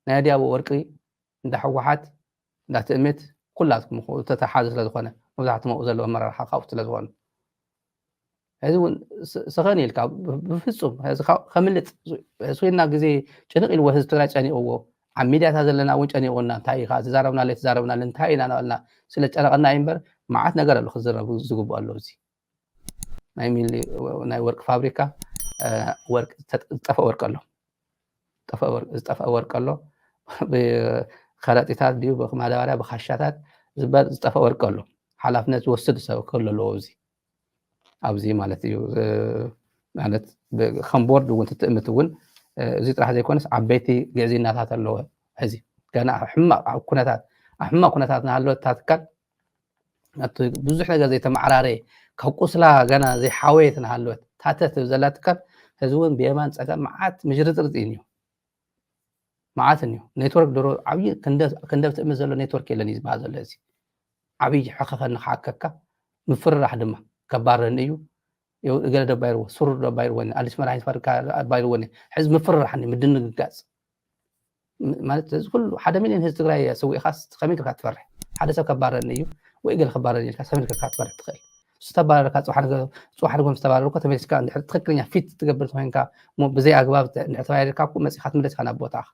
ናይ ኣድያቦ ወርቂ እንዳ ህወሓት እንዳ ትእምት ኩላትኩም እኹ ዝተተሓሓዘ ስለ ዝኾነ መብዛሕትም ኣብኡ ዘለዉ ኣመራርሓ ካብኡ ስለ ዝኾኑ ሕዚ እውን ሰኸን ኢልካ ብፍፁም ሕዚ ከምልጥ ስና ግዜ ጭንቕ ኢልዎ ህዝቢ ትግራይ ጨኒቕዎ ኣብ ሚድያታት ዘለና እውን ጨኒቑና እንታይ ኢኻ ትዛረብና ለይ ትዛረብና እንታይ ኢና ናበልና ስለ ጨነቐና እዩ እምበር መዓት ነገር ኣሎ ክዝረብ ዝግብኦ ኣሎ እዚ ናይ ሚሊ ናይ ወርቂ ፋብሪካ ዝጠፍአ ወርቂ ኣሎ ዝጠፍአ ወርቂ ኣሎ ብከረጢታት ድዩ ብማዳበርያ ብካሻታት ዝበል ዝጠፍአ ወርቂ ኣሎ ሓላፍነት ዝወስድ ሰብ ክህሉ ኣለዎ እዚ ኣብዚ ማለት እዩ ማለት ከም ቦርድ እውን ትትእምት እውን እዚ ጥራሕ ዘይኮነስ ዓበይቲ ግዕዝይናታት ኣለዎ ሕዚ ገና ሕማቕ ኩነታት ኣብ ሕማቕ ኩነታት ናሃለወት እታ ትካል ናብቲ ብዙሕ ነገር ዘይተመዓራረየ ካብ ቁስላ ገና ዘይሓወየት እናሃለወት ታተት ዘላ ትካል ህዚ እውን ብየማን ፀጋም መዓት ምጅርፅርፅ እዩ እኒኦ መዓት እኒኦ ኔትወርክ ድሮ ዓብዪ ክንደብ ትእምት ዘሎ ኔትወርክ የለን እዩ ዝበሃል ዘሎ እዚ ዓብዪ ሕኸኸ ንክሓከካ ምፍርራሕ ድማ ከባረኒ እዩ ገለ ዶ ኣባይርዎ ስሩር ዶ ኣባይርዎኒ ኣዲስ መድሃኒት ፋብሪካ ኣባይርዎኒ ሕዚ ምፍርራሕ ምድንግጋፅ ማለት እዚ ኩሉ ሓደ ሚልዮን ህዝቢ ትግራይ ኣሰዊእኻስ ከመይ ጌርካ ትፈርሕ? ሓደ ሰብ ከባረኒ እዩ ወይ ገለ ከባረኒ ኢልካ ከመይ ጌርካ ክትፈርሕ ትኽእል? እሱ ተባረረካ ፅባሕ ነገ ፅባሕ ንጎ ምስ ተባረርኩ ተመሊስካ እንድሕር ትኽክለኛ ፊት ትገብር እንተኮይንካ እሞ ብዘይ ኣግባብ እንድሕር ተባሪርካ እኮ መፂእካ ትምለስካ ናብ ቦታኻ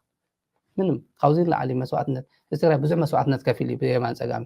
ምንም ካብዚ ንላዕሊ መስዋእትነት እዚ ትግራይ ብዙሕ መስዋእትነት ከፊሉ እዩ ብየማን ፀጋም